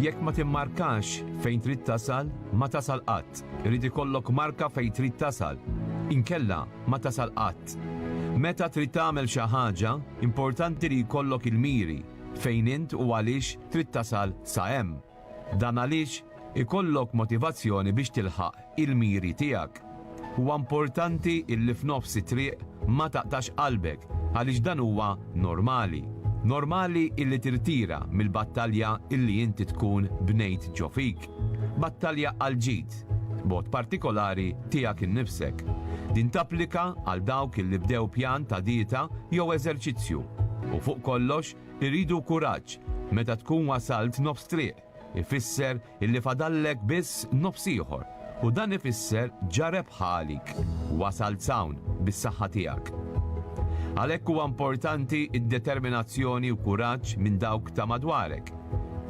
Jekk ma timmarkax fejn trid tasal, ma tasal qatt. Irid ikollok marka fejn trid tasal. Inkella, ma tasal qatt. Meta trid tagħmel xi ħaġa, importanti li jkollok il-miri, fejn int u għaliex trid tasal sa hemm. Dan għaliex ikollok motivazzjoni biex tilħaq il-miri tiegħek. Huwa importanti illi f'nofs it-triq ma taqtax qalbek għaliex dan huwa normali. Normali illi tirtira mill-battalja illi inti tkun bnejt ġo fik. Battalja għall-ġid, b'mod partikolari tiegħek innifsek. Din tapplika għal dawk illi bdew pjan ta' dieta jew eżerċizzju. U fuq kollox iridu kuraġġ meta tkun wasalt nofs triq, ifisser illi fadallek biss nofs ieħor u dan ifisser ġa rebħa għalik, wasalt s'hawn bis-saħħa tiegħek. Għalhekk huwa importanti d-determinazzjoni u kuraġġ minn dawk ta' madwarek.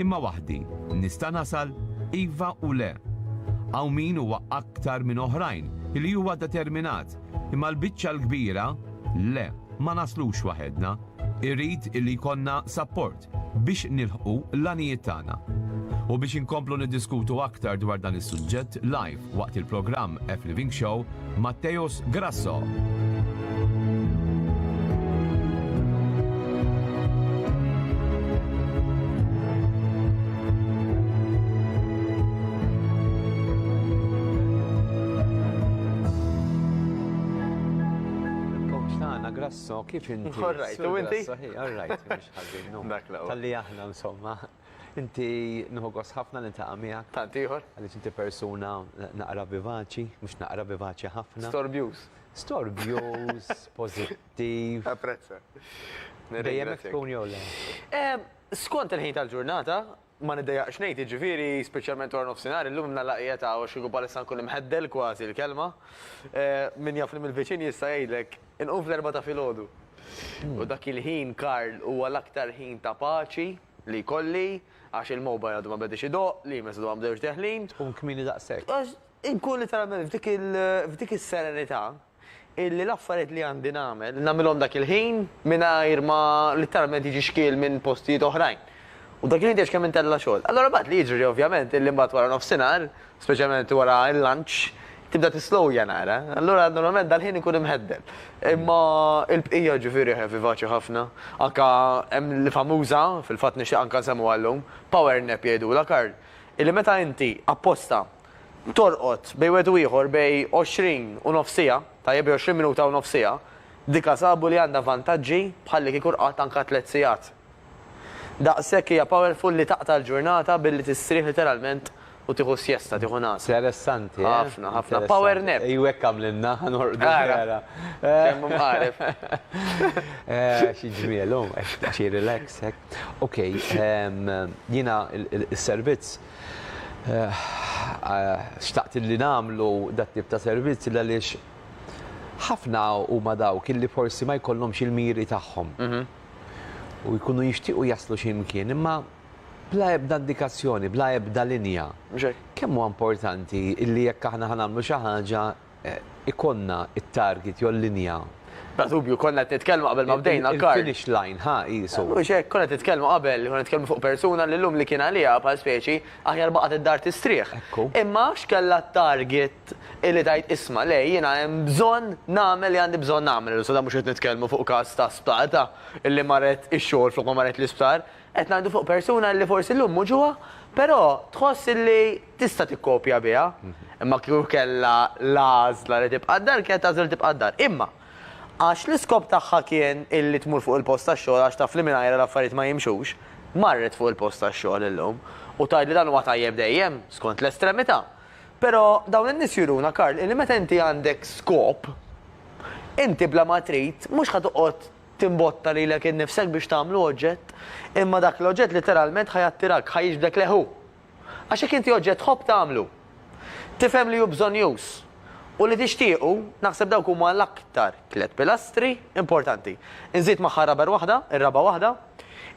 Imma waħdi, nista' nasal? Iva u le. Hawn min huwa aktar minn oħrajn illi huwa determinat, imma l-biċċa l-kbira, le, ma naslux waħedna, irrid illi jkollna sapport. Biex nilħqu l-għanijiet tagħna. U biex inkomplu niddiskutu aktar dwar dan is-suġġett live waqt il-programm F-Living Show, Matteus Grasso. so kif inti. All right, u inti? All right. Ħażin hu. Dak l-ewwel. Talli aħna insomma. Inti nieħu gost ħafna li niltaqa' miegħek. Tant ieħor. Għaliex inti persuna naqra vivaċi, mhux naqra vivaċi ħafna. Storbjuż. Storbjuż, pożittiv. Apprezza. Dejjem hekk tkun jew le? Skont il-ħin tal-ġurnata. Ma niddejjaqx ngħid, jiġifieri, speċjalment wara nofsinhar, illum imna laqgħiet hawn għax kieku bħalissa nkun imħeddel kważi l-kelma. Min jafni mill-viċin jista' jgħidlek, inqum fl-erbgħa ta' filgħodu. U dak il-ħin, Karl, huwa l-aktar ħin ta' paċi li jkolli għax il-mobile għadu ma bediex idoqq, l-emails għadhom ma bdewx deħlin. Tkun kmieni daqshekk. Għax inkun litteralment f'dik is-serenità. illi l-affarijiet li għandi nagħmel, nagħmilhom dak il-ħin mingħajr ma litteralment jiġi xkiel minn postijiet oħrajn. U dak il-ħin tgħidx kemm int tella' xogħol. Allura mbagħad li jiġri ovvjament illi mbagħad wara nofsinhar, speċjalment wara l-lunch, tibda tislowja naqra. Allura normalment dal-ħin inkun imheddel. Imma l-bqija ġifieri eħe vivaċi ħafna. Anke hemm l-famuża, fil-fatt nixtieq anke nsemmuha llum, power nap jgħidulha Karl, illi meta inti apposta Torqod, bejn wieħed u ieħor, bejn għoxrin u nofs siegħa, tajjeb bejn għoxrin minuta u nofs siegħa, dika sabu li għandha vantaġġi bħalli kieku rqadt anka tliet siegħat. Daqshekk hija powerful li taqta' l-ġurnata billi tistrieħ literalment u tieħu sjesta, tieħu nagħsa. Interessanti, eh? Ħafna, ħafna. Power nap. Ejju hekk għamlilna, ħa norqdu vera. Kemm hu mqareb. Xi ġmiel hu, għax hi relax hekk. Okej, jiena s-servizz, Xtaqt illi nagħmlu dat-tip ta' servizz għaliex ħafna huma dawk illi forsi ma jkollhomx il-miri tagħhom u jkunu jixtiequ jaslu xi mkien imma bla ebda indikazzjoni, bla ebda linja. Kemm huwa importanti illi jekk aħna ħa nagħmlu xi ħaġa, ikollna t-target jew l-linja. Bla dubju, konna qed nitkellmu qabel ma bdejna Karl. Il-finish line, ha, qiesu. Mhux hekk, konna qed nitkellmu qabel, konna qed nitkellmu fuq persuna li llum li kien għaliha bħal speċi aħjar baqgħet id-dar tistrieħ. Ekku. Imma għax kellha t-target li tgħid isma' le, jiena hemm bżonn nagħmel li għandi bżonn nagħmel. Issa dan mhux qed nitkellmu fuq każ ta' sptar ta' li marret ix-xogħol flok ma marret l-isptar. Qed ngħidu fuq persuna li forsi llum mhux ġuha, però tħoss li Tista' tikkopja biha, imma kieku kellha l-għażla li tibqa' d-dar kienet tagħżel li tibqa' d-dar. Imma, għax l-iskop tagħha kien illi tmur fuq il-post tax-xogħol għax taf li mingħajrha l-affarijiet ma jimxux, marret fuq il-post tax-xogħol illum. U tgħid li dan huwa tajjeb dejjem, skont l-estremità. Però, dawn in-nies juruna, Karl, illi meta inti għandek skop, inti bla ma trid, mhux ħa toqgħod timbotta lilek innifsek biex tagħmlu oġġett, imma dak l-oġġett litteralment ħa jattirak, ħa jiġbdek lejh hu. Għax jekk inti oġġett tħobb tagħmlu, tifhem li hu bżonnjuż, u li tixtiequ, naħseb dawk huma l-aktar tliet pilastri importanti. Inżid magħha r-raber waħda, ir-raba' waħda,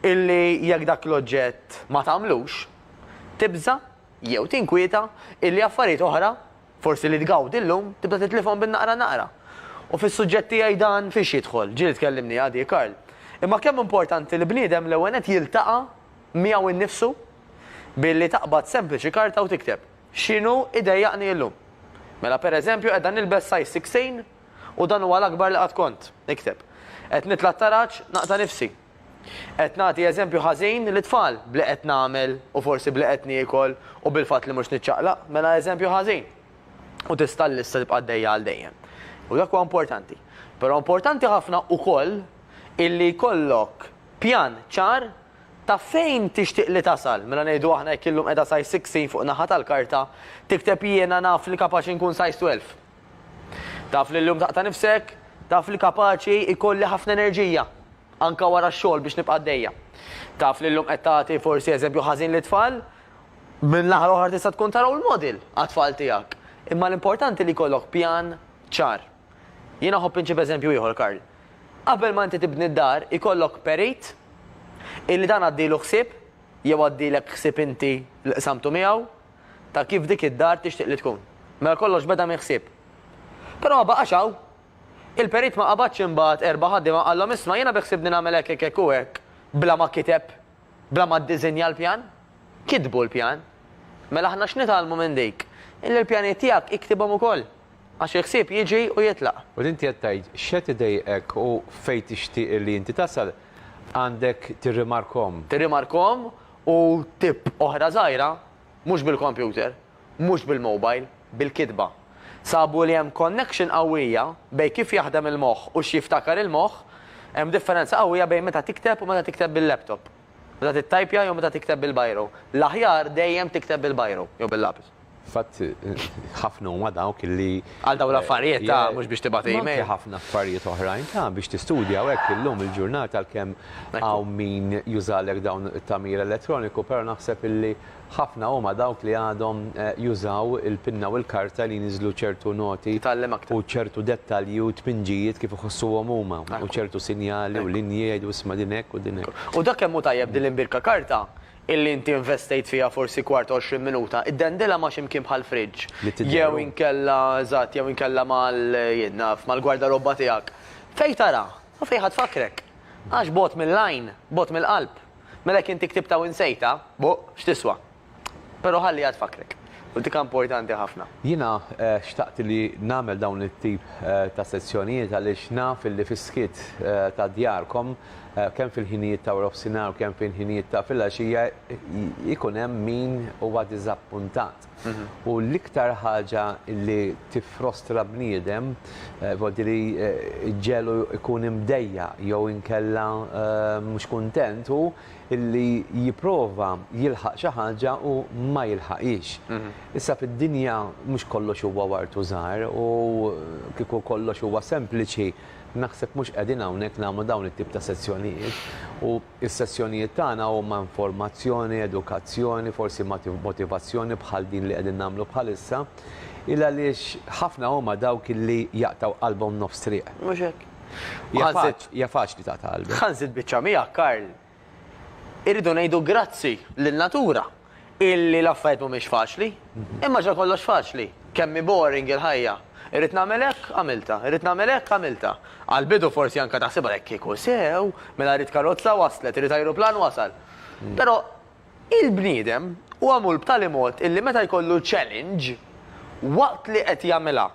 illi jekk dak l-oġġett ma tagħmlux, tibża' jew tinkwieta illi affarijiet oħra, forsi li tgawdi llum, tibda titlifhom bin-naqra naqra. U fis-suġġett tiegħi dan fiex jidħol? Jill tkellimniha di, Karl. Imma kemm importanti li bniedem l-ewwel nett jiltaqa' miegħu nnifsu billi taqbad sempliċi karta u tikteb, X'inhu jdejjaqni illum? Mela, pereżempju, qiegħda nilbes size sixteen u dan huwa l-akbar li qatt kont, ikteb. Qed nitla' t-taraġ, naqta' nifsi. Qed nagħti eżempju ħażin lit-tfal b'li qed nagħmel u forsi b'li qed niekol u bil-fatt li mhux niċċaqlaq, mela eżempju ħażin. U tista' l-lista tibqa' għaddejja għal dejjem. U dak huwa importanti. Però importanti ħafna wkoll illi jkollok pjan ċar Ta' fejn tixtieq li tasal? Mela ngħidu aħna jekk illum qiegħda size 16 fuq naħa tal-karta, tikteb Jiena naf li kapaċi nkun size 12. Taf li llum taqta' nifsek, taf li kapaċi jkolli ħafna enerġija, anke wara x-xogħol biex nibqa' għaddejja. Taf li llum qed tagħti forsi eżempju ħażin lit-tfal, minn naħa l-oħra tista' tkun ta' role model għat-tfal tiegħek. Imma l-importanti li jkollok pjan ċar. Jien aħobb inġib eżempju ieħor, Karl. Qabel ma inti tibni d-dar, ikollok perit illi dan għaddielu ħsieb, jew għaddielek ħsieb inti li qsamtu miegħu, ta' kif dik id-dar tixtieq li tkun. Mela kollox beda minn ħsieb. Però ma baqax hawn. Il-perit ma qabadx imbagħad erba' ħaddiema u qallhom isma' jiena biħsibni nagħmel hekk hekk hekk u hekk bla ma kiteb Bla ma ddiżinja l-pjan? Kitbu l-pjan. Mela aħna x'nitgħallmu minn dik? Illi l-pjanijiet tiegħek iktibhom ukoll. Għax il-ħsieb jiġi u jitlaq. U inti qed tgħid x'qed idejqek u fejn tixtieq illi inti tasal, għandek tirrimarkhom. Tirrimarkhom u tipp oħra żgħira, mhux bil-kompjuter. mhux bil-mobile, bil-kitba. Sabu li hemm connection qawwija bejn kif jaħdem il-moħħ u x'jiftakar il-moħħ, hemm differenza qawwija bejn meta tikteb u meta tikteb bil-laptop. Meta tittajpja jew meta tikteb bil-biro. L-aħjar dejjem tikteb bil-biro jew bil-lapis. Fil-fatt, ħafna huma dawk li. Għal dawn l-affarijiet, ta, mhux biex tibgħat email. Anke ħafna affarijiet oħrajn, ta, biex tistudja u hekk illum il-ġurnata għalkemm hawn min jużalek dawn it-tagħmir elettroniku, però naħseb illi. Ħafna huma dawk li għadhom jużaw il-pinna u l-karta li jniżżlu ċertu noti u ċertu dettalji u tpinġijiet kif iħossuhom huma u ċertu sinjali u linji jgħidu isma' din hekk u din hekk. U dak kemm hu tajjeb din l-imbirka karta illi inti investejt fiha forsi kwart u għoxrin minuta, iddendilha ma' xi mkien bħall-fridge jew inkella eżatt jew inkella mal jien naf mal-gwardarobba tiegħek fejn taraha u fejn ħa tfakkrek. Għax bogħod mill-għajn, bogħod mill-qalb. Mela jekk inti ktibtha u insejtha, boh, x'tiswa? Però ħalli għad fakrek. U dik importanti ħafna. Jiena xtaqt li nagħmel dawn it-tip ta' sezzjonijiet għaliex naf illi fis-skiet ta' djarkom, kemm fil-ħinijiet ta' warofsinhar u kemm fil-ħinijiet ta' filgħaxija, jkun hemm min huwa diżappuntat. U l-iktar ħaġa li tiffrostra bniedem, vuol dire li ġġegħlu jkun imdejjaq jew inkella mhux kuntent hu li jipprova jilħaq xi ħaġa u ma jilħaqhiex. Issa fid-dinja mhux kollox huwa ward u żahar u kieku kollox huwa sempliċi naħseb mhux qegħdin hawnhekk nagħmlu dawn it-tip ta' sezzjonijiet u Is-sessjonijiet tagħna huma informazzjoni, edukazzjoni, forsi motivazzjoni bħal din li qegħdin nagħmlu bħalissa, il għaliex ħafna huma dawk li jaqtgħu qalbhom nofs triq. Mhux hekk. Hija faċli taqta' qalbek. Ħa nżid biċċa miegħek, Karl. Irridu ngħidu grazzi lin-natura. illi l-affarijiet mhumiex faċli, imma ġa kollox faċli. Kemm hi boring il-ħajja. Irrid nagħmel hekk, għamiltha. Irrid nagħmel hekk, għamiltha. Għall-bidu forsi anke taħsibha hekk kieku sew, mela rrid karozza, waslet, irrid ajruplan, wasal. Però il-bniedem hu magħmul b'tali mod illi meta jkollu challenge, waqt li qed jagħmilha,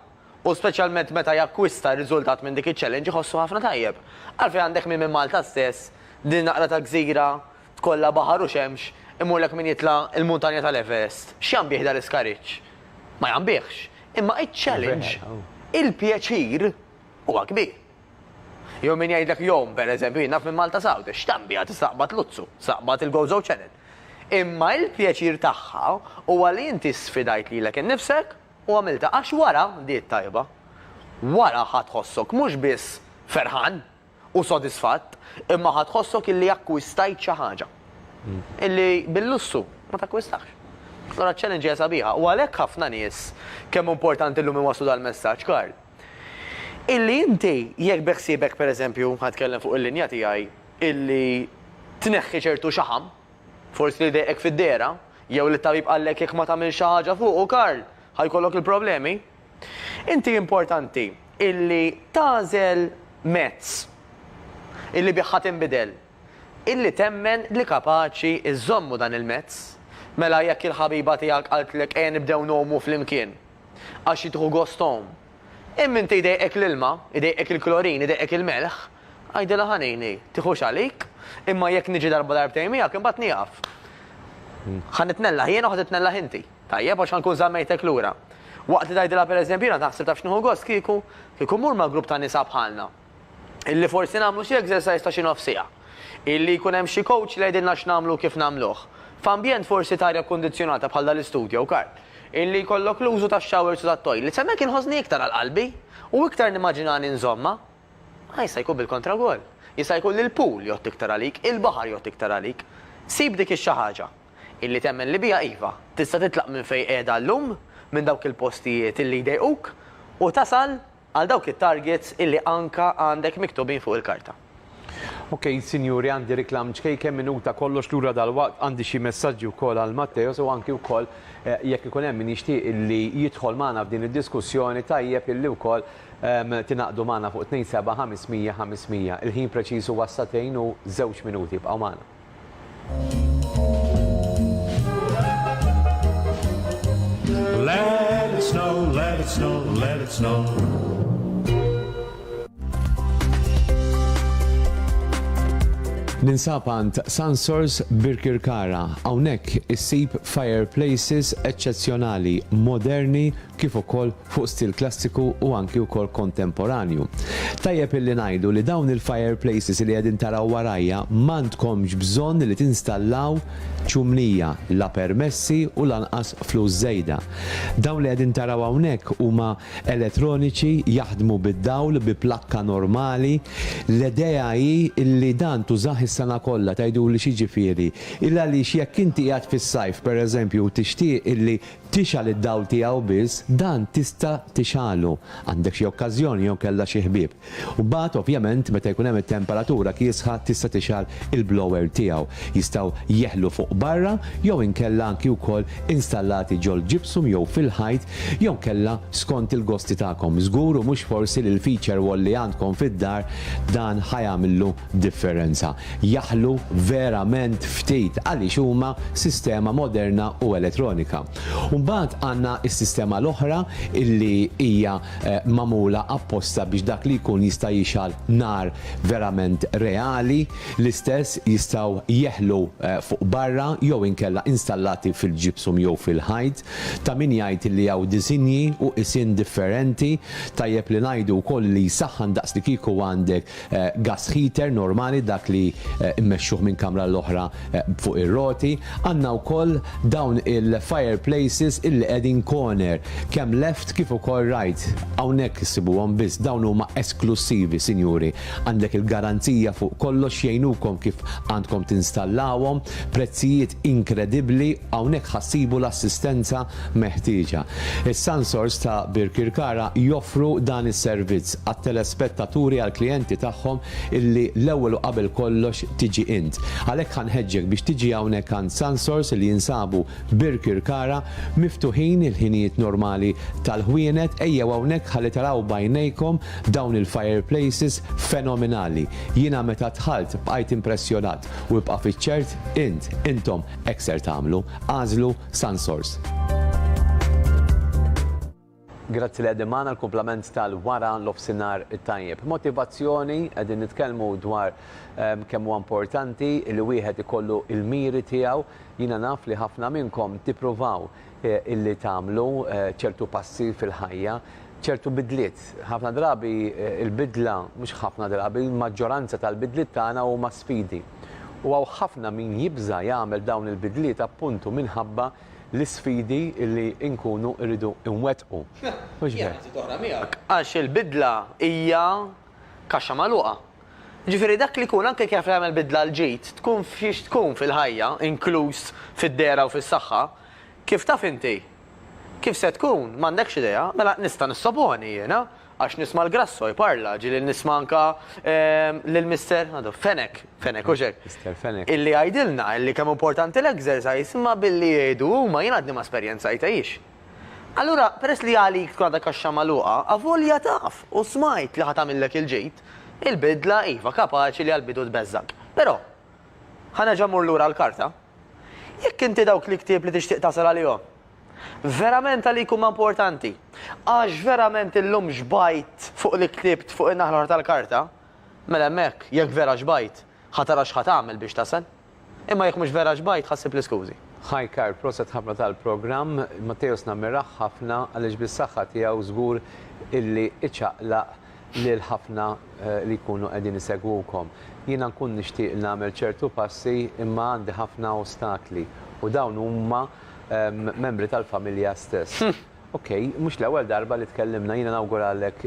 u speċjalment meta jakkwista riżultat minn dik iċ-challenge iħossu ħafna tajjeb. Għalfejn għandek min minn Malta stess, din naqra ta' gżira Tkollha baħar u xemx, imurlek min jitla' il-muntanja tal-Everest. X'jambih dan l-iskariġġ? Ma jambihx. Imma iċ-challenge, il-pjaċir, huwa kbir. Jew min jgħidlek jom, per eżempju, jien naf minn Malta Sawda, x'tambija tista' tqbad Luzzu, tista' tqbad il-Gozo Channel. Imma il-pjaċir tagħha huwa li inti sfidajt lilek innifsek u għamiltha għax wara, di t-tajba, wara ħa tħossok mhux biss ferħan, u sodisfatt, imma ħa tħossok illi akkwistajt xi ħaġa. Illi bil-lussu ma takkwistax. Allura ċ-challenge hija sabiħa u għalhekk ħafna nies kemm hu importanti llum iwasslu dal-messaġġ, Karl. Illi inti jekk beħsiebek pereżempju, ħa nitkellem fuq il-linja tiegħi, illi tneħħi ċertu xaħam, forsi li jdejqek fid-dehra, jew li t-tabib qallek jekk ma tagħmilx xi ħaġa fuqu, Karl, ħa jkollok il-problemi. Inti importanti illi tagħżel mezz illi bih ħa tinbidel, illi temmen li kapaċi żżommu dan il-mezz. Mela jekk il-ħabiba tiegħek qaltlek ejja nibdew ngħumu flimkien għax hi tieħu gost tgħum, imma inti jdejqek l-ilma, jdejqek il-klorin, jdejqek il-melħ, għidilha ħa ngħini, tieħux għalik, imma jekk niġi darba darbtejn miegħek imbagħad nieqaf. Ħa nitnellaħ jien u ħa titnellaħ inti. Tajjeb, għax nkun żammejtek lura. Waqt li tgħidilha pereżempju, jiena naħseb taf x'nieħu gost kieku? Kieku mmur ma' grupp ta' nisa bħalna. Illi forsi nagħmlu xi exercise ta' xi nofs siegħa. Illi jkun hemm xi coach li jgħidilna x'nagħmlu u kif nagħmluh. F'ambjent forsi ta' arja kkundizzjonata bħal dal-istudju hawn kar. Illi jkollok l-użu tax-showers u tat-toilets. Hemmhekk inħossni iktar għal qalbi. U iktar nimmaġinani nżommha. Ma jista' jkun bil-kontra wkoll. Jista' jkun li l-pool jgħodd iktar għalik, il-baħar jgħodd iktar għalik. Sib dik ix-xi ħaġa. illi temmen li biha iva, tista' titlaq minn fejn qiegħda llum, minn dawk il-postijiet illi jdejquk, u tasal għal dawk it-targets illi anka għandek miktubin fuq il-karta. Ok, sinjuri, għandi reklam ċkejken, minuta, kollox lura dalwaqt, għandi xi messaġġi wkoll għal Matteos u anki wkoll jekk ikun hemm min jixtieq illi jidħol magħna f'din id-diskussjoni tajjeb illi wkoll tingħaqdu magħna fuq 27500 500. Il-ħin preċiż huwa s-sagħtejn u żewġ minuti, ibqgħu magħna. Let it snow, let it snow, let it snow. Ninsab għand Sansors Birkirkara. Hawnhekk issib fireplaces eċċezzjonali, moderni kif ukoll fuq stil klassiku u anki wkoll kontemporanju. Tajjeb illi ngħidu li dawn il-fireplaces li qegħdin taraw warajja m'għandkomx bżonn li tinstallaw ċumnija, la permessi u lanqas flus żejda. Dawn li qegħdin taraw hawnhekk huma elettroniċi, jaħdmu bid-dawl, bi plakka normali. L-idea hi illi dan tużah is-sena kollha, tgħiduli x'jiġifieri? Il għaliex jekk inti qiegħed fis-sajf pereżempju u tixtieq illi Tixgħal id-dawl tiegħu biss dan tista' tixgħalu. Għandek xi okkażjoni jew kellha xi ħbieb. U mbagħad ovvjament meta jkun hemm it-temperatura kiesħa tista' tixgħal il-blower tiegħu. Jistgħu jeħlu fuq barra jew inkella anki wkoll installati ġol-gypsum jew fil-ħajt jew inkella skont il-gosti tagħkom. Żgur u mhux forsi li l-feature wall li għandkom fid-dar dan ħa jagħmillu differenza. Jaħlu verament ftit għaliex huma sistema moderna u elettronika. U mbagħad għandna s-sistema l-oħra illi hija magħmula apposta biex dak li jkun jista' jixgħal nar verament reali, l-istess jistgħu jeħlu fuq barra jew inkella installati fil-gypsum jew fil-ħajt. Ta' min jgħid illi hawn disinji u qisien differenti. Tajjeb li ngħidu wkoll li jsaħħan daqs li kieku għandek gas heater normali dak li mmexxuh minn kamra għal oħra fuq ir-roti, għandna wkoll dawn il-fire places illi qegħdin corner kemm left kif ukoll right. Hawnhekk issibuhom biss dawn huma esklussivi sinjuri. Għandek il-garanzija fuq kollox jgħinukom kif għandkom tinstallawhom, prezzijiet inkredibbli, hawnhekk ħa ssibu l-assistenza meħtieġa. Is-sansors ta' Birkirkara joffru dan is-servizz għat-telespettaturi għall-klijenti tagħhom illi l-ewwel u qabel kollox tiġi int. Għalhekk ħa nħeġġek biex tiġi hawnhekk għand Sansors li jinsabu Birkirkara miftuħin il-ħinijiet normali tal-ħwienet ejjew hawnhekk ħalli taraw b'għajnejkom dawn il-fireplaces fenomenali. Jiena meta dħalt bqajt impressjonat u ibqa' fiċ-ċert int, intom, Hekk ser tagħmlu, agħżlu Sunsource. Grazzi li qegħdin magħna l-kumplament tal-wara l-ofsinhar tajjeb. Motivazzjoni qegħdin nitkellmu dwar ehm, kemm huwa importanti li wieħed ikollu l-miri tiegħu. Jiena naf li ħafna minnkom tippruvaw eh, illi tagħmlu eh, ċertu passi fil-ħajja, ċertu bidliet. Ħafna drabi eh, il-bidla, mhux ħafna drabi, il-maġġoranza tal-bidliet tagħna huma sfidi. u hawn ħafna min jibża' jagħmel dawn il-bidliet appuntu minħabba l-isfidi li nkunu rridu nwettqu. Mhux hekk? Għax il-bidla hija kaxxa magħluqa. Jiġifieri dak li jkun anke jaf li jagħmel bidla l-ġid, tkun f'xiex tkun fil-ħajja, inkluż fid-dehra u fis-saħħa, kif taf inti? Kif se tkun? M'għandekx idea. Mela nista' nissoponi jiena. Għax nisma' l-Grasso jparla, ġieli nisma' anke lil Mister, għadu, Fenech, Fenech, hux hekk? Mister Fenech. Illi jgħidilna illi kemm importanti l-exercise imma billi jgħidu huma jien għadni ma esperjenzajthiex. Allura, peress li għalik tkun għadha kaxxa magħluqa, avolja taf u smajt li ħa tagħmillek il-ġid, il-bidla, iva, kapaċi li għall-bidu tbeżżgħek. Però, ħa nerġa' mmur lura għall-karta. Jekk inti dawk l-iktieb li tixtieq tasal għalihom, Verament għalik huma importanti. Għax verament illum xbajt fuq li ktibt fuq in-naħa l-oħra tal-karta, mela hemmhekk, jekk vera xbajt, ħa tara x'ħa tagħmel biex tasal. Imma jekk mhux vera xbajt, ħa ssib l-iskużi. Hi Karl, proset ħafna tal-programm, Matteus nammirah ħafna għaliex bis-saħħa tiegħu żgur illi iċaqlaq lil ħafna li jkunu qegħdin isegwukom. Jiena nkun nixtieq nagħmel ċertu passi imma għandi ħafna ostakli u dawn huma membri tal-familja stess. Ok, mhux l-ewwel darba li tkellimna, jiena nawguralek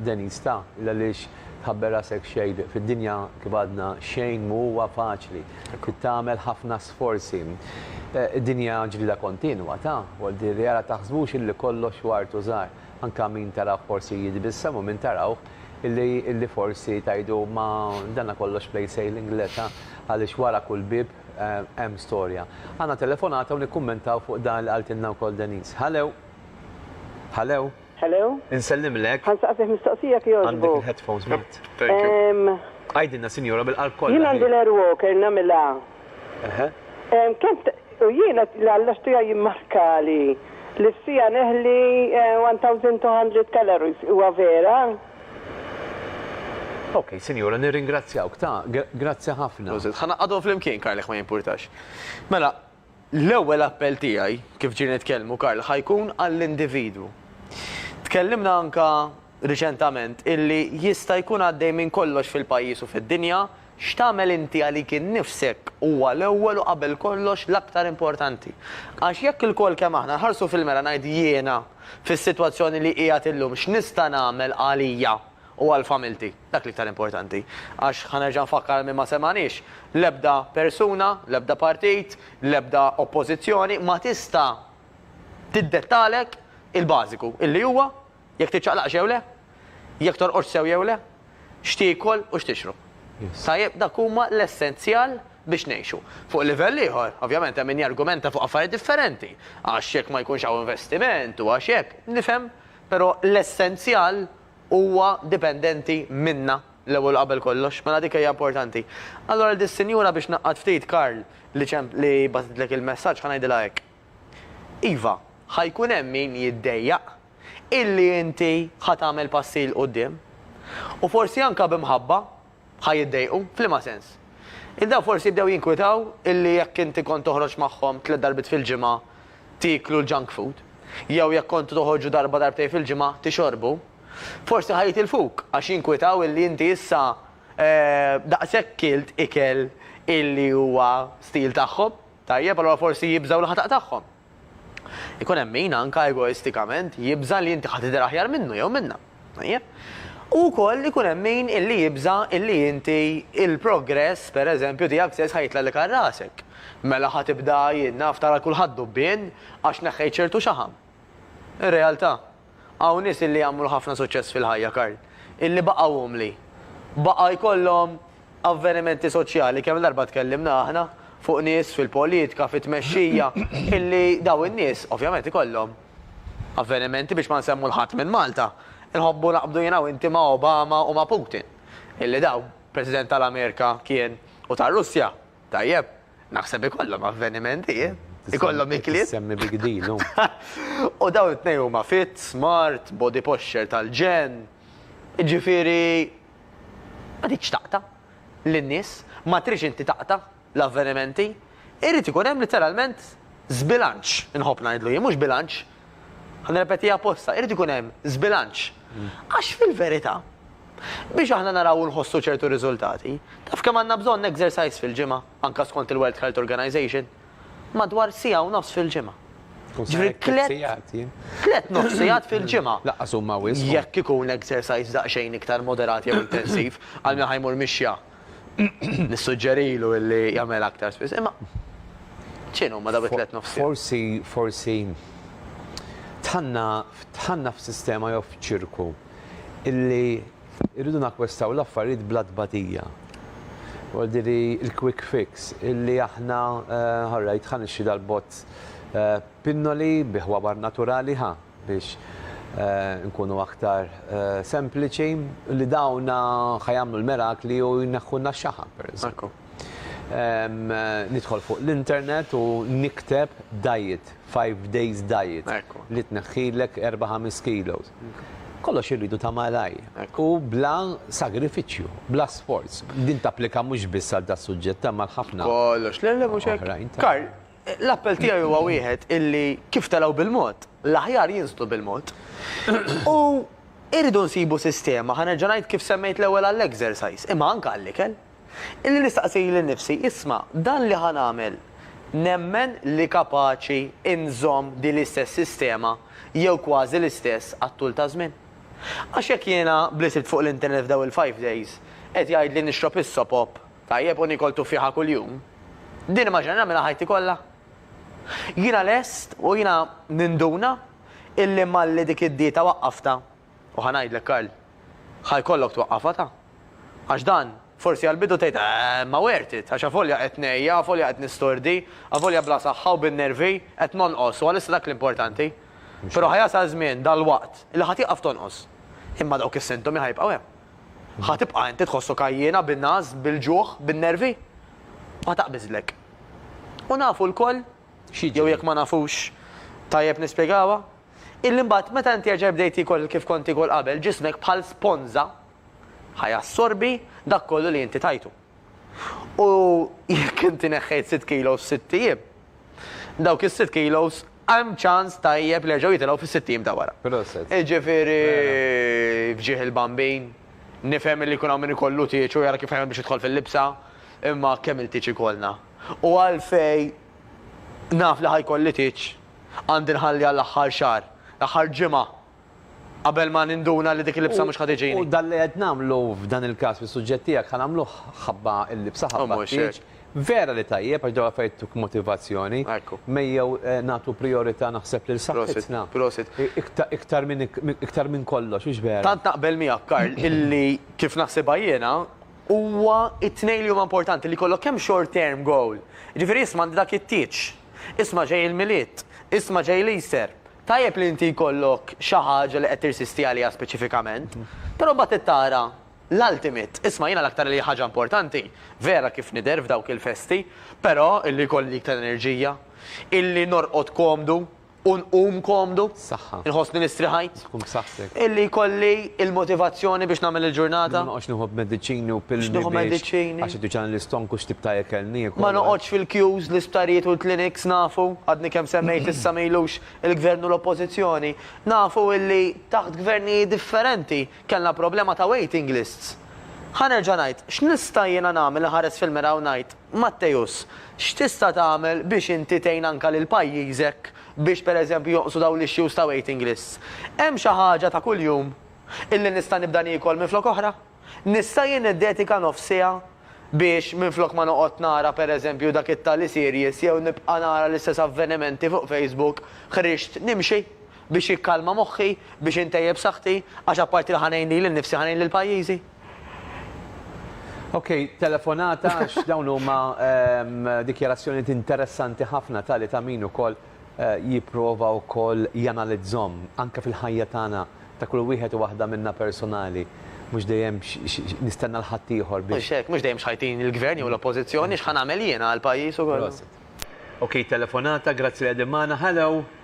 Denise ta, l-għaliex tħabber rasek xejn, fid-dinja kif għadna xejn mhu huwa faċli, trid tagħmel ħafna sforzi. Id-dinja ġlieda kontinwa ta, wol dir li ara taħsbux illi kollox hu artu żgħar, anke min tarawh forsi jitbissem u min tarawh illi illi forsi tgħidu ma danna kollox plain sailing le ta, għaliex wara kull bieb, Hemm storja. Għandna telefonata u nikkummentaw fuq dan li qaltilna wkoll Denise. Hallo? Hallo? Hallo? Insellimlek. Ħa nsaqsih mistoqsija jekk jogħġbok. Għandek il-headphones Mart? Thank you. Ehm. Għidilna sinjura bil-qalb kollha. Jien għandi l-air walker nagħmilha. Eħe. Ehm kemm t-, u jiena li Alla xtiha jimmarkali li f'siegħa neħli 1200 calories, huwa vera? Okej, Sinjura, nirringrazzjawk, ta, grazzi ħafna. Prosit. Ħa naqgħadhom flimkien, Karl, jekk ma jimpurtax. Mela, l-ewwel appell tiegħi, kif ġieli nitkellmu, Karl, ħa jkun għall-individwu. Tkellimna anke riċentament illi jista' jkun għaddej minn kollox fil-pajjiż u fid-dinja X'tagħmel inti għalik innifsek huwa l-ewwel u qabel kollox l-aktar importanti. Għax jekk ilkoll kemm aħna nħarsu fil-mera ngħid jiena fis-sitwazzjoni li qiegħed illum x'nista' nagħmel għalija u għal familti? Dak l-iktar importanti. Għax ħa nerġa' nfakkar għal min ma semagħniex, l-ebda persuna, l-ebda partit, l-ebda oppożizzjoni ma tista' tiddettalek il-bażiku, illi huwa Jekk tiċċaqlaqx jew le, jekk torqodx sew jew le, x'tiekol u x'tixrob. Tajjeb, dak huma l-essenzjal biex ngħixu. Fuq livell ieħor, ovvjament hemm min jargumenta fuq affarijiet differenti, għax jekk ma jkunx hawn investiment u għax hekk, nifhem, però l-essenzjal huwa dipendenti minna l-ewwel u qabel kollox, mela dik hija importanti. Allura lil dis-sinjura biex ngħaqqad ftit Karl li ċemp li bagħtitlek il-messaġġ ħa ngħidilha hekk. Iva, ħa jkun hemm min jiddejjaq illi inti ħa tagħmel passi 'l quddiem. U forsi anke b'imħabba ħa jiddejqu. F'liema sens? Illi dawn forsi bdew jinkwitaw illi jekk inti kont toħroġ magħhom tliet darbiet fil-ġimgħa tieklu l-junk food, jew jekk kontu toħorġu darba darbtejn fil-ġimgħa tixorbu, forsi ħa jitilfuk għax jinkwitaw illi inti issa daqshekk kilt ikel illi huwa stil tagħhom. Tajjeb, allura forsi jibżgħu li ħa taqtagħhom. Ikun hemm min, anke egoistikament, jibża' li inti ħa tidher aħjar minnu jew minnha. Tajjeb? U wkoll ikun hemm min illi jibża' illi inti il-progress, per eżempju, tiegħek stess ħa jitlgħalek għal rasek. Mela ħa tibda, jien naf, tara lil kulħadd b'ubbien għax neħħejt ċertu xaħam. Ir-realtà. Hawn nies illi għamlu ħafna suċċess fil-ħajja, Karl, illi baqgħu umli. Baqa' jkollhom avvenimenti soċjali, kemm-il darba tkellimna aħna fuq nies fil-politika, fit-tmexxija, illi dawn in-nies, ovvjament ikollhom avvenimenti, biex ma nsemmu 'l ħadd minn Malta, inħobbu naqbdu jien u inti ma' Obama u ma' Putin, illi dawn, President tal-Amerika kien u tar-Russja. Tajjeb, naħseb ikollhom avvenimenti, ikollhom ikliet. Semmi big deal hu. U dawn it-tnejn huma fit, smart, body posture tal-ġenn. Jiġifieri ma tridx taqta' lin-nies, ma tridx inti taqta' l-avvenimenti. Irid ikun hemm litteralment żbilanċ, inħobb ngħidlu jien, mhux bilanċ, Ħa nirrepetiha apposta, irid ikun hemm żbilanċ. Għax fil-verità, biex aħna naraw u nħossu ċertu riżultati, taf kemm għandna bżonn exercise fil-ġimgħa, anke skont il-World Health Organization? Madwar siegħa u nofs fil-ġimgħa. Ġifieri tliet tliet nofs sigħat fil-ġimgħa. Lanqas huma wisq. Jekk ikun exercise daqsxejn iktar moderat jew intensiv, għal min ħa jmur mixja. Nissuġġerilu illi jagħmilha aktar spiss. Imma x'inhu huma dawk it-tliet nofsijiet? Forsi, forsi tħanna, tħanna f'sistema jew f'ċirku illi rridu nakwestaw l-affarijiet bla tbatija. Għaldiri il-quick fix illi aħna ħarrajt ħanixxi dal-bot Pinnoli bi ħwabar naturali ħa biex inkunu aktar sempliċi li dawn ħa jagħmlu l-mirakli u jneħħulna x-xaħam pereżempju. Nidħol fuq l-internet u nikteb diet, five days diet, li tneħħilek erba' ħames kilos. Kollox irridu ta' malajr u bla sagrifiċċju, bla sforz. Din tapplika mhux biss għal das-suġġett imma għal ħafna oħrajn. Kollox. Le, le, mhux hekk. L-appell tiegħi huwa wieħed illi kif telgħu bil-mod, l-aħjar jinżlu bil-mod. U irridu nsibu sistema, ħa nerġa' ngħid kif semmejt l-ewwel għall-exercise, imma anke għall-ikel, illi nistaqsi lil nifsi, isma' dan li ħa nagħmel nemmen li kapaċi nżomm din l-istess sistema jew kważi l-istess għat-tul ta' żmien? Għax jekk jiena b'li sibt fuq l-internet f'dawn il-five days qed jgħidli nixrob is-sopop Tajjeb, u niekol tuffieħa kuljum. Din nimmaġina nagħmilha ħajti kollha? Jiena lest u jiena ninduna illi malli dik id-dieta waqqaftha, u ħa ngħidlek Karl, ħa jkollok twaqqafha ta. Għax dan, forsi għall-bidu tgħid, eeh, imma worth it, għax avolja qed ngħejja, avolja qed nistordi, avolja bla saħħa u bin-nervi, qed nonqos u għalissa dak l-importanti. Però ħa jasal żmien, dalwaqt, illi ħa tieqaf tonqos. Imma dawk is-sintomi ħa jibqgħu hemm. Ħa tibqa' inti tħossok għajjiena bin-ngħas, bil-ġuħ, bin-nervi? Ħa taqbiżlek. U nafu lkoll, jew jekk ma nafux, tajjeb nispjegawha, illi mbagħad meta inti erġa' bdejt tiekol kif kont tiekol qabel, ġismek bħal sponża ħa jassorbi dak kollu li inti tajtu. U jekk inti neħħejt sitt kilos f'sitt ijiem, dawk is-sitt kilos hemm ċans tajjeb li jerġgħu jitilgħu fis-sitt ijiem ta' wara. Proset. Jiġifieri f'ġieħ il-bambin, nifhem li jkun hawn min ikollu tieġ u jara kif jagħmel biex jidħol fil-libsa, imma kemm il-tieġ ikollna? U għalfejn naf li ħa jkolli tieġ, għandi nħalli għall-aħħar xahar, l-aħħar ġimgħa Qabel ma ninduna li dik il-libsa mhux ħa tiġini. U dan li qed nagħmlu f'dan il-każ fis-suġġett tiegħek ħa nagħmluh ħabba l-libsa, ħabba t-tieġ. Vera li tajjeb għax dawn l-affarijiet jtuk motivazzjoni. Mejjew nagħtu prijorità naħseb lil saħħitna. Iktar minn iktar minn kollox, hux vera? Tant naqbel miegħek Karl illi kif naħsibha jiena huwa t-tnejn li huma importanti li jkollok kemm short term goal, jiġifieri isma' għandi dak it-tieġ, isma' ġej il-Milied, isma' ġej l-Easter, Tajjeb li inti jkollok xi ħaġa li qed tirsisti għaliha speċifikament, però mbagħad trid tara l-ultimate. Isma' jiena l-aktar li ħaġa importanti, vera kif nidher f'dawk il-festi, però illi jkolli iktar enerġija, illi norqod komdu u nqum komdu, inħossni li strieħajt. Illi jkolli l-motivazzjoni biex nagħmel il-ġurnata. Li ma noqgħodx nieħu mediċini u pilli biex għax iduċan l-istonk u x'tip ta' ikel niekol. Ma noqgħodx fil-queues l-isptarijiet u l-clinics nafu, għadni kemm semmejt issa ma ilux il-Gvern u l-Oppożizzjoni, nafu illi taħt Gvernijiet differenti kellna problema ta' waiting lists. Ħa nerġa' ngħid, x'nista' jiena nagħmel inħares fil-mera u ngħid, Matteus, x'tista' tagħmel biex inti tgħin anke lil pajjiżek biex pereżempju jonqsu dawn l-issues ta' waiting lists, hemm xi ħaġa ta' kuljum illi nista' nibda niekol minflok oħra? Nista' jien niddedika nofs siegħa biex minflok ma noqgħod nara pereżempju dak it-tali series jew nibqa' nara l-istess avvenimenti fuq Facebook, ħriġt nimxi biex jikkalma moħħi, biex intejjeb saħħti, għax apparti li ħa ngħin lili nnifsi ħa ngħin lil pajjiżi? Ok, telefonata għax dawn huma ehm, dikjarazzjonijiet interessanti ħafna tali ta' min ukoll eh, jipprova wkoll janalizzhom anke fil-ħajja tagħna ta' kull wieħed u waħda minna personali. Mhux dejjem nistenna l-ħadd ieħor biex. Mhux hekk, mhux dejjem xħajtin il-gvern jew l-oppożizzjoni x'ħa nagħmel jiena għall-pajjiż ukoll. Ok, telefonata, grazzi li qegħdin magħna. Hello!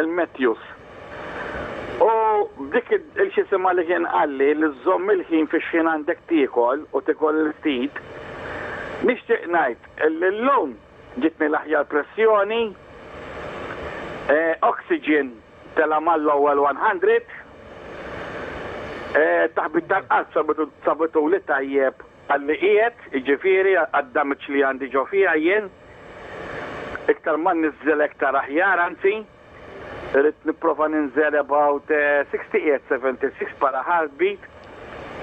Il-Matthews. U b'dik il-xisimha li kien qalli li żżomm il-ħin fix-xħin għandek tiekol u tiekol il-ftit, nixtieq ngħid li llum ġietni l-aħjar pressjoni, oxygen tela' mal-ewwel 100, taħbit tal-qalb sabituli tajjeb għalli qiegħed, jiġifieri għad-damage li għandi ġo fija jien. Iktar ma nniżżel iktar aħjar, anzi, irrid nipprova ninżel about sixty qiegħed seventy six bħala heartbeat,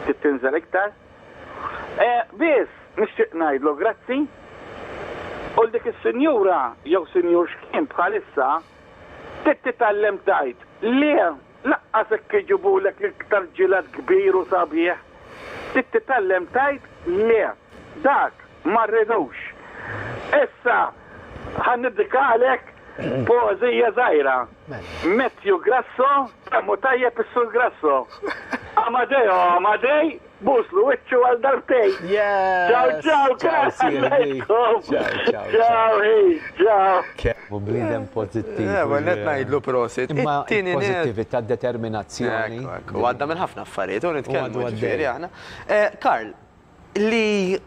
trid tinżel iktar. Biss, nixtieq ngħidlu grazzi u 'l dik is-sinjura jew sinjur x'kien bħalissa, trid titgħallem tgħid le. Laqqas hekk iġibulek l-iktar ġiled kbir u sabiħ. Trid titgħallem tgħid le. Dak ma rridux. Issa ħa niddikalek poeżija żgħira. Matthew Grasso, kemm hu tajjeb is-Sur Grasso. Amadeo Amadei Buslu wiċċu għal darbtejn. Ciao ciao Karl Ħanejtkom. Ciao Hayes, ciao. Kemm bniedem pożittiv. L-ewwel nett ngħidlu prosit. Imma il-pożittività, d-determinazzjoni. U għadda minn ħafna affarijiet u nitkellmu ġifieri aħna. Karl, li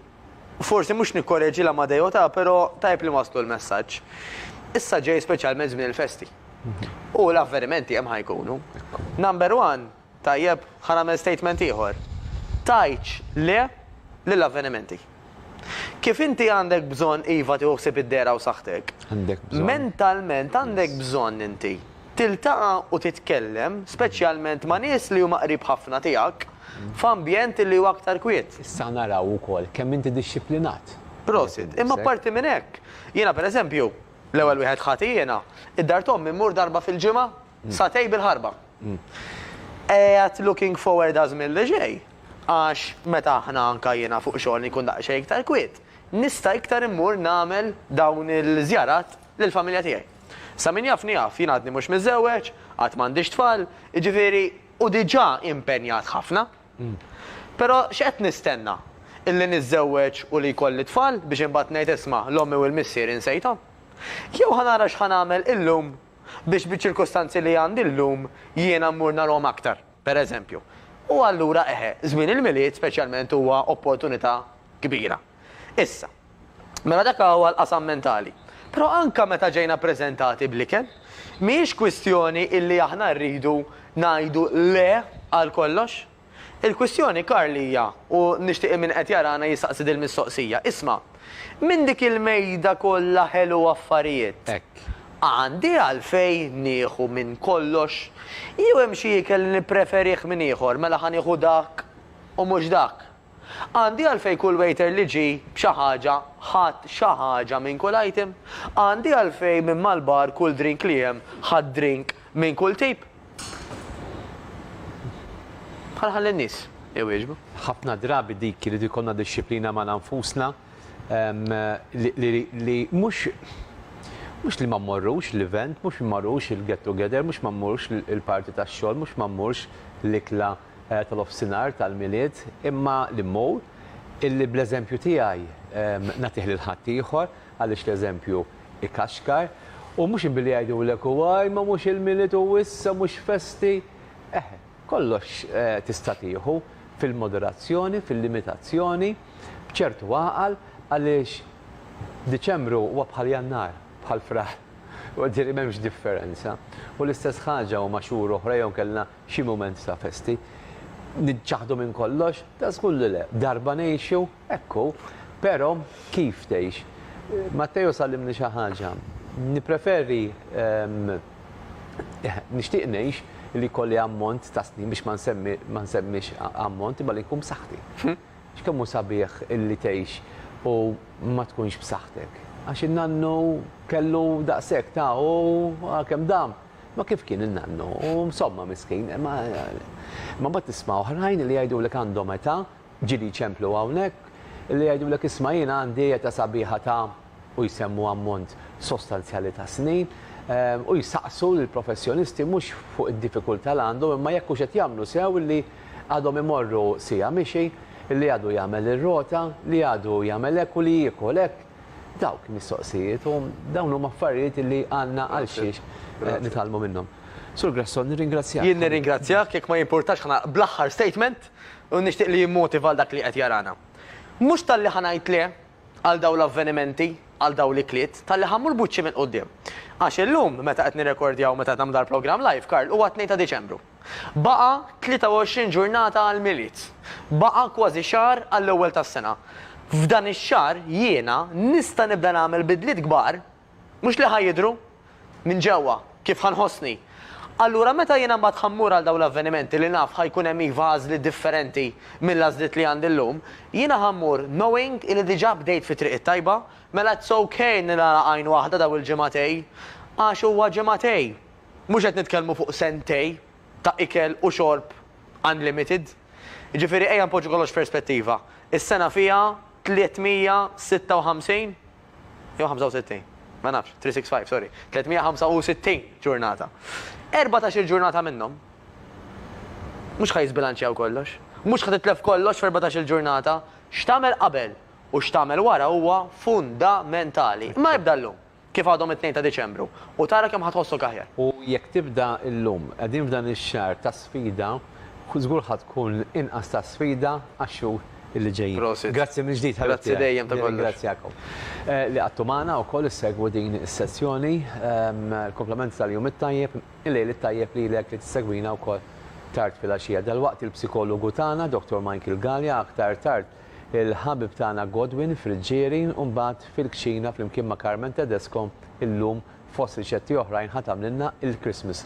forsi mhux nikkoreġi l-Amadeo ta, però tajjeb li nwasslu l-messaġġ. Issa ġej speċjalment żmien il-festi. U l-avvenimenti hemm ħa jkunu. Number one, Tajjeb, ħa nagħmel statement ieħor. Tgħidx le lil avvenimenti. Kif inti għandek bżonn iva tieħu ħsieb id-dehra u saħħtek, mentalment għandek bżonn inti tiltaqa' u titkellem speċjalment ma' nies li huma qrib ħafna tiegħek f'ambjent li hu aktar kwiet. Issa naraw ukoll kemm inti dixxiplinat. Prosit. Imma apparti minn hekk, jiena pereżempju, l-ewwel wieħed ħati jiena, id-dar t'ommi mmur darba fil-ġimgħa. Satej bil-ħarba. Qiegħed looking forward għal żmien li ġej għax meta aħna anke jiena fuq xogħol inkun daqsxejn iktar kwiet, nista' iktar immur nagħmel dawn il-żjarat lill-familja tiegħi. Sa min jafni jaf, jien għadni mhux miżżewweġ, għad m'għandix tfal, jiġifieri u diġà impenjat ħafna. Però x'qed nistenna? Illi niżżewweġ u li jkolli tfal biex imbagħad ngħid isma' l-ommi u l-missier insejthom? Jew ħa nara x'ħa nagħmel illum biex biċ-ċirkustanzi li għandi llum jiena mmur narahom aktar, pereżempju. U allura eħe, żmien il-Milied speċjalment huwa opportunità kbira. Issa, mela dak huwa l-qasam mentali. Però anke meta ġejna ppreżentati bl-ikel, mhijiex kwistjoni illi aħna rridu ngħidu le għal kollox. Il-kwistjoni Karl hija, u nixtieq li min qed jarana jistaqsi dil-mistoqsija, isma', minn dik il-mejda kollha ħelu affarijiet, Hekk. għandi għalfejn nieħu minn kollox? Jew hemm xi ikel li nippreferih minn ieħor, mela ħa nieħu dak u mhux dak? Għandi għalfejn kull waiter li ġie b'xi ħaġa ħadd xi ħaġa minn kull item? Għandi għalfejn min mal-bar kull drink li hemm ħadd drink minn kull tip? Bħal ħalli n-nies iwieġbu. Ħafna drabi dik irid ikollna dixxiplina magħna nfusna li mhux mhux li ma mmorrux l-event, mhux mmorrux il-get together, mhux ma mmurx il-party tax-xogħol, mhux ma mmurx l-ikla tal-offsinhar tal-Milied, imma li mmur, illi bl-eżempju tiegħi nagħtih lil ħaddieħor, għaliex l-eżempju jkaxkar, u mhux billi jgħidulek u għaj ma mhux il-Milied u issa mhux festi, eħe, kollox tista' tieħu fil-moderazzjoni, fil-limitazzjoni, b'ċertu għaqal, għaliex Diċembru huwa bħal Jannar, bħal Frar, u jiġifieri m'hemmx differenza. U l-istess ħaġa huma xhur oħra jew inkella Xi mument ta' festi. Niċċaħħdu minn kollox? Ta' żgur li le. Darba ngħixu? Hekk hu. Però, kif tgħix? Matteo s'għallimni xi ħaġa. Nippreferi, nixtieq ngħix li jkolli ammont ta' snin biex ma nsemmix ammont imma li nkun b'saħħti. X'kemm hu sabiħ illi tgħix u ma tkunx b'saħħtek. Għax in-nannu kellu daqshekk ta' u għalkemm dam. Ma kif kien in-nannu, u msomma miskin, imma mbagħad tisma' oħrajn li jgħidulek għandhom età, ġieli jċemplu hawnhekk, li jgħidulek isma' jiena għandi età sabiħa ta' u jsemmu ammont sostanzjali ta' snin, u jsaqsu lill-professjonisti mhux fuq id-diffikultà li għandhom imma jekk hux qed jagħmlu sew illi għadhom imorru siegħa mixi, li għadu jagħmel ir-rota, li għadu jagħmel hekk u li jiekol hekk. Dawk mistoqsijiet u dawn huma affarijiet li għandna għal xiex nitgħallmu minnhom. Sur Grasso, nirringrazzjak. Jien nirringrazzjak, jekk ma jimpurtax ħa nagħlaq bl-aħħar statement u nixtieq li jimmotiva lil dak li qed jarana. Mhux talli ħa ngħid le għal dawn l-avvenimenti, għal dawn l-ikliet, talli ħa mmur b'wiċċi minn quddiem. Għax illum, meta qed nirrekordjaw, meta qed nagħmlu dal-programm live, Karl, huwa t-Tnejn ta' Diċembru. Baqa' 23 ġurnata għall-Milied. Baqa' kważi xahar għall-ewwel tas-sena. F'dan ix-xahar jiena nista' nibda nagħmel bidliet kbar, mhux li ħa jidhru, minn ġewwa, kif ħa nħossni. Allura meta jiena mbagħad ħa mmur għal dawn l-avvenimenti li naf ħa jkun hemm iva għażliet differenti mill-għażliet li għandi llum, jiena ħa mmur knowing illi diġà bdejt fit-triq it-tajba. Mela it's ok li nagħlaq għajn waħda dawn il-ġimgħatej, għax huwa ġimgħatej, Mhux qed nitkellmu fuq sentej ta' ikel u xorb unlimited. Jiġifieri ejja npoġġu kollox f'perspettiva. Is-sena fiha 356 jew 65? Ma nafx, 365, sorry, 365 ġurnata. Erbatax-il ġurnata minnhom mhux ħa jiżbilanċjaw kollox. Mhux ħa titlef kollox f'erbatax-il ġurnata. X'tagħmel qabel u x'tagħmel wara huwa fundamentali. Ma jibda llum. Kif għadhom it-Tnejn ta' Diċembru u tara kemm ħa tħossok aħjar. U jekk tibda llum, qegħdin f'dan ix-xahar ta' sfida, żgur ħa tkun inqas ta' sfida għax-xhur li ġejjin. Prosit. Grazzi mill-ġdid ħabib tiegħi. Grazzi dejjem ta' kollox. Nirringrazzjakom li qgħadtu magħna u wkoll issegwu din is-sessjoni. Il-komplementi tal-jum it-tajjeb, il-lejl it-tajjeb lilek li tissegwina wkoll tard filgħaxija. Dalwaqt il-psikologu tagħna, Dottor Michael Galea, aktar tard il-ħabib tagħna Godwin Friggieri u mbagħad fil-kċina flimkien ma' Carmen Tedesco illum fost riċetti oħrajn ħa tagħmlilna il-Christmas.